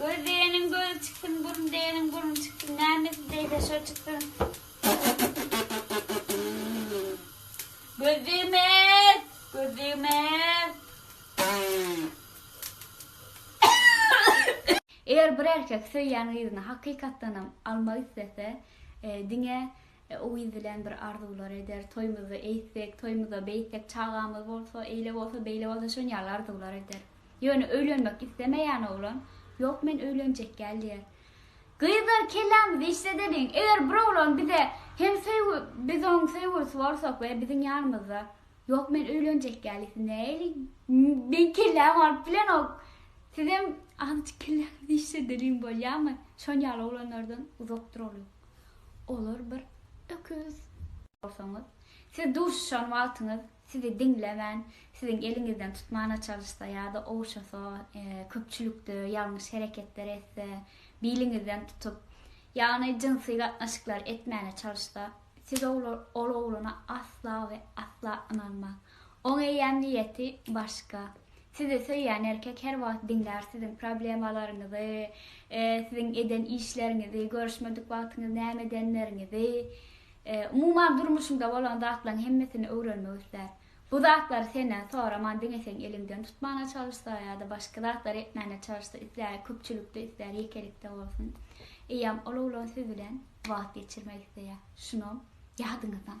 Göz diýeniň gözi çyksyn, burun diýeniň burny çyksyn, nämesi degse şo çyksyn. Göz degmez, göz degmez. Eger bir erkek söýýän gyzyny hakykatdanam almak islese, e, diňe Yz bilen bir arzuwlar eder, toýmuzda eýtsek, toýmuzda beýtsek, çagamyz bolsa, eýle bolsa, beýle bolsa şon ýaly arzuwlar eder. Ýöne öýlenmek islemeýän oglan, Ýok men öýlenjek däl diýer. Gyzlar kellämizi işledeliň, eger bir oglan bize hem söýgi biz oň söýgülisi bolsak we biziň ýanymyzda Ýok men öýlenjek däl diýse näeliň? Meň kellämi alyp bilenok. Sizem azajyk kelläňizi işledeliň bolýamy? Şon ýaly oglanlardan uzak duralyň. Olar bir öküz. Bolsaňyz, siz duşuşan wagtyňyz sizi diňlemän, siziň eliňizden tutmana çalyşsa ýa-da ogşasa, köpçülikde ýalňyş hereketler etse, biliňizden tutup, ýagny jynsy gatnaşyklar etmäne çalyşsa, siz ol ogluna asla we asla ynanmaň. Oň eýýäm niýeti başga. Sizi söýýän erkek her wagt diňlär siziň problemalaryňyzy, siziň eden işleriňizi, görüşmedik wagtyňyz näme edenleriňizi, umuman durmuşyňda bolan zatlaryň hemmesini öwrenmek islär. Bu zatlary senden soraman diňe seň eliňden tutmana çalyşsa ýa-da başga zatlar etmäne çalyşsa islär, köpçülikde islär, ýekelikde bolsun. Eýýäm ol oglan siz bilen wagt geçirmek isleýär. Şuny ýadyňyzdan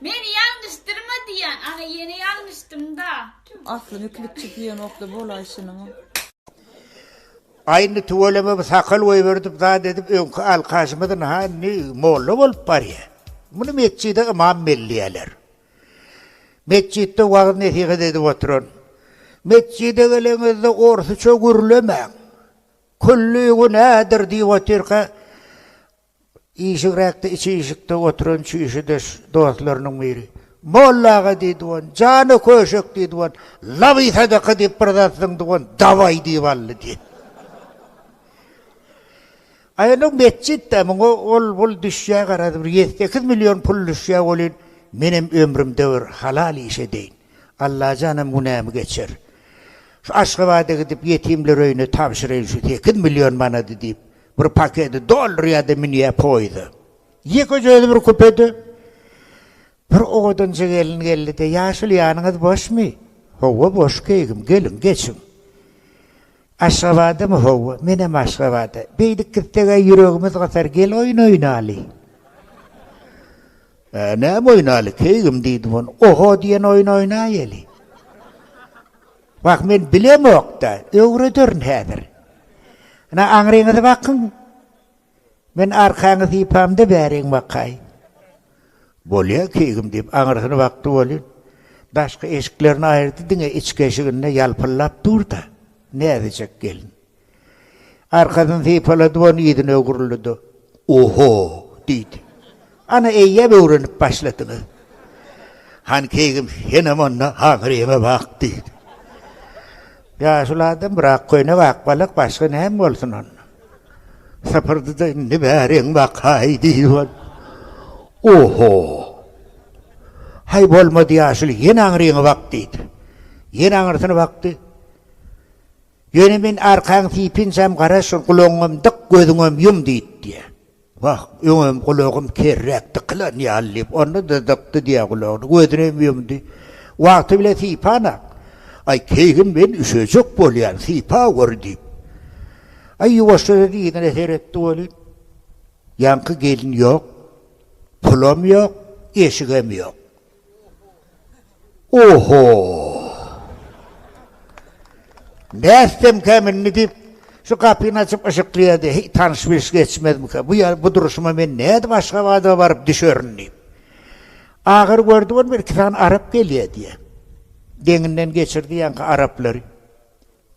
Meni ýalňyşdyrma diýýän ana ýene ýalňyşdymda tüw. Aslyny klipçi diýenokda bolaý şunuň. Aý indi tüweleme bu sakal goýberdip zat edip öňki alkaşymyzyn ha indi molla bolup barýa. Muny metjide ymam belleýäler. Metjitde wagyz nesihat edip oturan. Metjide geleňizde orsuça gürlemäň. Külli günädir diýip otyrka Işigräkde içi işikde oturan çüýşüdeş dostlarynyň biri. Molla aga, diý dogan, jana köşek, diý dogan, laby sadaka diýip bir zat zyň dogan, dabaý diýip aldy, diý. Aýalyň metjit-dä, muňa ol-bul düşýär garaz, bir ýedi-sekiz million pul düşýär welin, menem ömrümde bir halal iş edeýin. Allajanam günämi geçer. Şu Aşgabada gidip ýetimler öýüne tabşyraýyn şu sekiz million manady diýip, Bir pakedi doldurýardy, münýär poýizde. Ýekeje özi bir kupede. Bir owadanja gelin geldi-de, Ýaşuly, ýanyňyz boşmy? Hawa, boş keýgim, geliň, geçiň. Aşgabadamy? Hawa, menem Aşgabada. Beýdip gitseg-ä ýüregimiz gysar, gel oýun oýnaly. Ä, näme oýnaly, keýgim, diýdim, oňa. Oho diýen oýun oýnaýaly. Wah, men bilemok-da, öwrederin häzir. Ine, aňryňyzy bakyň. Men arkaňy sypamda bäriň bakaýyn. Bolýa, keýgim, diýip, aňyrsyna bakdy welin, daşky eşiklerini aýyrdy, diňe içki eşiginde ýalpyldap dur-da, näzijek gelin. Arkasyny sypalady, bony yzyna öwrüldi-de, Oho! diýdi. Ana, eýýäm öwrenip başladyňyz. Han keýgim, senem onda haňyr ýeme bak, diýdi. Ýaşuly adam bir ak köýnek, ak balak, başga näme bolsun onda? Sypyrdy-da, Indi bäriň bakaý, diýdi bol. Oho! Haý, bolmady, ýaşuly, ýene aňryňy bak, diýdi. Ýene aňyrsyna bakdy. Ýöne men arkaň sypynjam gara şol gulagyňam dyk gözüňem ýum diýip diýä. Wah, öňem gulagym kerräk dykylan ýaly diýip onda-da dykdy diýä gulagyny, gözünem ýumdy. Wagty bile sypan-a. Aý, keýgim men üşejek bolýan, sypa gör diýip. Aý, ýuwaşja-da yzyna seretdi welin, ýaňky gelin ýok, pulam ýok, eşigem ýok. Oho! Bäsdemkäm indi diýip, şu gapyny açyp yşyklaýardy. Heý, tanyş-bilş geçmezmika? Bu ýer, bu durşuma men nädip Aşgabada baryp düşerin diýip. Agyr gördi bolma, iki sany arap gelýär diýýär. Deňinden geçirdi ýaňky araplary.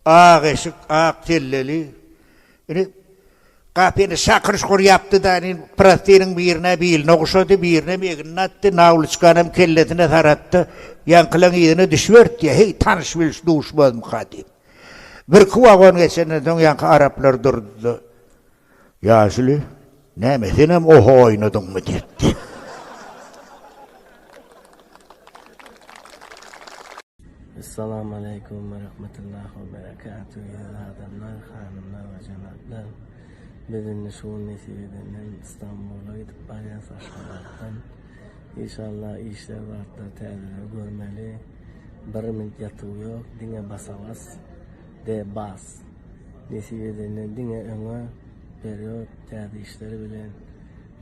Ak eşik, ak selleli. Indi gapyny şakyr şukur ýapdy-da, indi prostiniň birine biline ogşady, birinem egnine atdy, nawliçkanam kellesine saratdy. Ýaňkylaň yzyna düşüberipdi, heý, tanyş-bilş duşmazmyka diýip. Birki wagon geçenden soň ýaňky araplar durdy-da. Ýaşuly, Näme, senem oho oýnadyňmy? diýipdi. Essalamu aleýkum we rahmetullahi we berekatuh ýaly adamlar, hanymlar we jenaplar. Biz indi şu gün nesip edenden Stambula gidip barýas Aşgabatdan. Inşallah işler bardyr täzeleri görmeli. Bir minut ýatyw ýok, diňe basa bas. The Bas. Nesip edende diňe öňe perýod täze işler bilen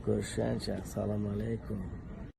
görüşýänçäk salam aleykum.